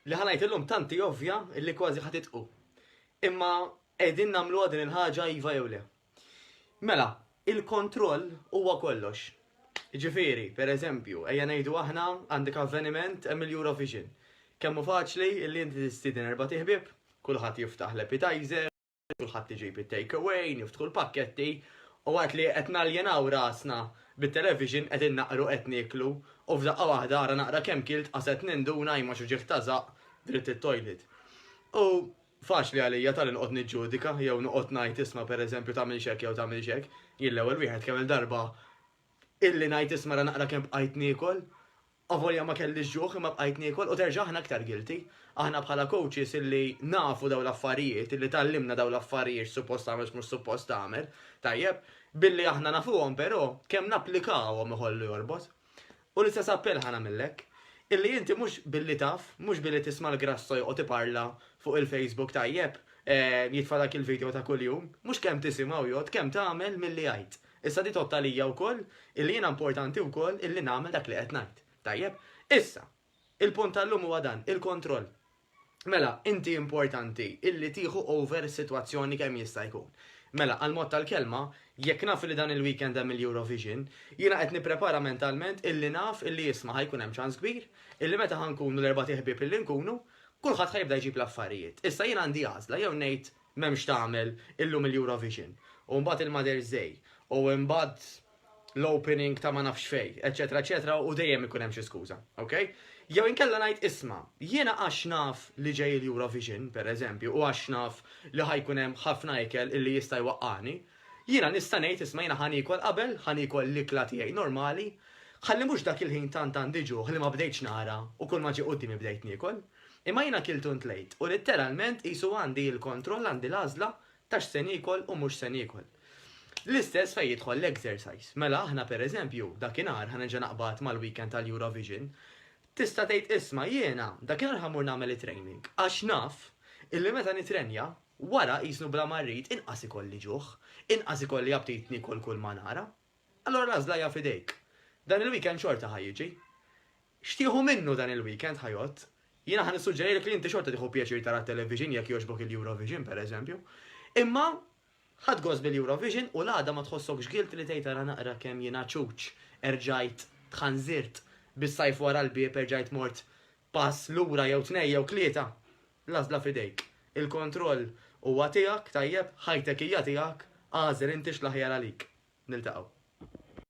Li ħa ngħid illum tant hi ovvja li kważi ħa titqu. Imma qegħdin nagħmluha din il-ħaġa iva jew le. Mela, il-kontroll huwa kollox. Ġifieri, pereżempju, ejja ngħidu aħna għandek avveniment hemm il-Eurovision. Kemm hu faċli li inti tistieden erbat iħbieb, kulħadd jiftaħ l-appetizer, kulħadd iġib it-take away, niftħu l-pakketti u waqt li qed naljenaw rasna bit-television qegħdin naqru qed nieklu u f'daqqa waħda ara naqra kemm kilt qaset ninduna imma x'uġigħ ta' żaqq dritt it-toilet. U faċli għalija ta' li noqgħod niġġudika jew noqgħod ngħid isma' pereżempju tagħmilx hekk jew tagħmilx hekk, jien l-ewwel wieħed kemm-il darba illi ngħid isma' ara naqra kemm bqajt niekol Avolja ma kellix ġuħ imma bqajt niekol u terġa' aħna aktar guilty. Aħna bħala coaches illi nafu dawn l-affarijiet, illi tgħallimna dawn l-affarijiet x'suppost tagħmel x'mhux suppost tagħmel, tajjeb, billi aħna nafuhom però, kemm napplikawhom iħollu jorbot. U l-istess appell ħa nagħmillek. Illi inti mhux billi taf, mhux billi tisma' l-Grasso joqgħod iparla fuq il-Facebook tajjeb, jitfa' dak il-video ta' kuljum, mhux kemm tisimgħu jgħodd, kemm tagħmel milli jgħid. Issa di tgħodd għalija wkoll illi jiena importanti wkoll illi nagħmel dak li qed ngħid. Tajjeb? Issa, il-punt tal-lum huwa dan, il-kontroll. Mela, inti importanti illi tieħu over is-sitwazzjoni kemm jista' jkun. Mela, għall-mod tal-kelma, jekk naf illi dan il-weekend hemm il-Eurovision, jiena qed nipprepara mentalment illi naf illi isma' ħa jkun hemm ċans kbir illi meta ħa nkunu l-erbat iħbieb illi nkunu, kulħadd ħa jibda jġib l-affarijiet. Issa jiena għandi għażla, jew ngħid M'hemmx tagħmel illum il-Eurovision, u mbagħad il-Mother's Day, u mbagħad l-opening ta' ma nafx fejn, eċċetera eċċetera u dejjem ikun hemm xi skuża. Ok? Jew inkella ngħid isma', jiena għax naf li ġej il-Eurovision, per eżempju, u għax naf li ħa jkun hemm ħafna ikel illi jista' jwaqqagħni, jiena nista' ngħid isma' jiena ħa niekol qabel, ħa niekol l-ikla tiegħi normali, ħalli mhux dak il-ħin tant għandi ġuħ li ma bdejtx nara u kulma ġie quddiemi bdejt niekol. Imma jiena kilt u ntlejt, u litteralment qisu għandi l-kontroll, għandi l-għażla ta' x'se niekol u mhux se niekol. L-istess fejn jidħol l-exercise. Mela aħna per eżempju, dakinhar ħa nerġa' naqbad mal-weekend tal-Eurovision, tista' tgħid isma' jiena dakinhar ħa mmur nagħmel it-training għax naf illi meta nitrenja, wara qisnu bla ma rrid inqas ikolli ġuħ, inqas ikolli aptit niekol kull ma nara. Allura l-għażla hija f'idejk. Dan il-weekend xorta ħa jiġi. X'tieħu minnu dan il-weekend ħa jgħodd. Jiena ħa nissuġġerilek li inti xorta tieħu pjaċir tara t-television jekk jogħġbok il-Eurovision pereżempju. Imma ħadt gost bil-Eurovision u l-għada ma tħossokx guilt li tgħid ara naqra kemm jiena ċuċ, erġajt, tħanżirt, bis-sajf wara l-bieb erġajt mort Pass lura jew tnejn jew tlieta, l-għażla f'idejk. Il-kontroll huwa tiegħek, tajjeb, ħajtek hija tiegħek, agħżel inti x'l-aħjar għalik. Niltaqgħu.